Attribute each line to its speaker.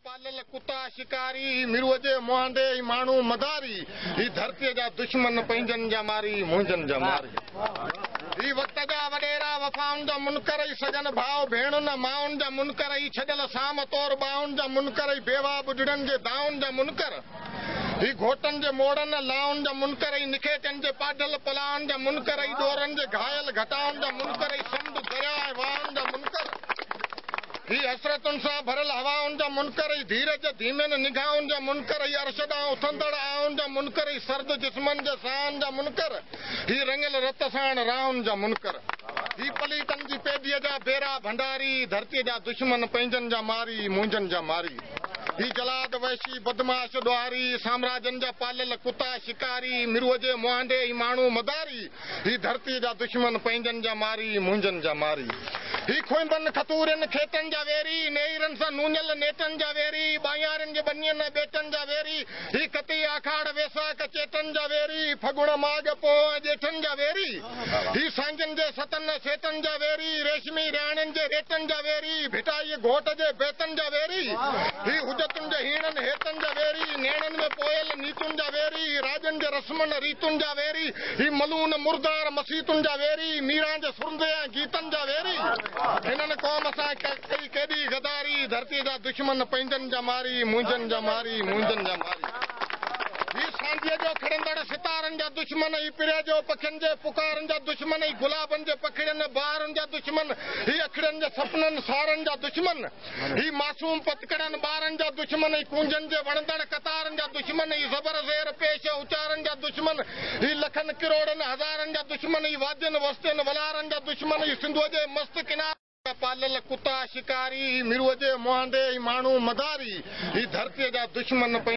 Speaker 1: پاليل ڪتا شڪاري، هي مروء جي مهانڊي، هي ماڻهو مداري، هي ڌرتيء جا دشمن، پنهنجن جا ماري، منهنجن جا ماري. هي وقت جا وڏيرا، وفائن جا منڪر، هي سڳن ڀاء ڀيڻن، مائن جا منڪر، هي ڇڏيل سام طور ٻانهن جا منڪر، هي بيواهه ٻڍڙن جي دانهن جا منڪر. هي گهوٽن جي موڙن، لائن جا منڪر ۽ نکيچن جي پاڍل پلاءن جا منڪر ۽ ڏورن جي گهايل گهٽائن جا منڪر ۽ سمنڊ، درياء ۽ واهن جا منڪر. هي حسرتن سان ڀريل هوائن جا منڪر ۽ ڌيرج جي ڌيمين نگاهن جا منڪر ۽ عرش ڏانهن اٿندڙ آهن جا منڪر ۽ سرد جسمن جي ساهن جا منڪر. هي رڱيل رت ساڻ راهن جا منڪر. هي پليتن جي پيڌيء جا بيرا ڀنڊاري، ڌرتيء جا دشمن، پنهنجن جا ماري، منهنجن جا ماري. هي جلاد، وحشي، بدمعاش، ڏوهاري، سامراجن جا پاليل ڪتا، شڪاري، مرو جي مهانڊي هي ماڻهو مداري، هي ڌرتيء جا دشمن، پنهنجن جا ماري، منهنجن جا ماري، هي کونبن، کتورين، کيٽن جا ويري، نيئرن سان نونيل نيٽن جا ويري، ٻانهيارين جي ٻنين ۽ ٻيٽن جا ويري، هي ڪتي، آکاڙ، ويساک، چيٽن جا ويري، هي ڦڳڻ، ماڳ، پوهه ۽ ڄيٺن جا ويري. هي سانگين جي ستن سيتن جا ويري، ريشمي رياڻين جي ريٽن جا ويري، ڀٽائيء گهوٽ جي بيتن جا ويري، هي حجتن جي هيڻن هيتن جا ويري، نيڻن ۾ پوئيل نيتن جا ويري، هي راڄن جي رسمن ريتن جا ويري، هي ملون مردار مسيتن جا ويري، ميران جي سرندي ۽ گيتن جا ويري، هنن قوم سان ڪئي ڪيڏي غداري، ڌرتيء جا دشمن پنهنجن جا ماري، منهنجن جا ماري، منهنجن جا ماري، هي سانجهيء جو کڙندڙ ستارن جا دشمن، پريا جو پکين جي پڪارن جا دشمن اي گلابن جي پکڙين ۽ بهارن جا دشمن هي اکڙين جي سپنن سارن جا دشمن هي معصوم پتڪڙن ٻارن جا دشمن اي ڪونجن جي وڻندڙ قطارن جا دشمن اي زبر زير پيش ۽ اچارن جا دشمن هي لکن ڪروڙن هزارن جا دشمن اي وادين وستين ولارن جا دشمن اي سنڌوء جي مست ڪنارن جا پاليل ڪتا شڪاري هي ميرو جي مهانڊي اي ماڻهو مداري هي ڌرتيء جا دشمن.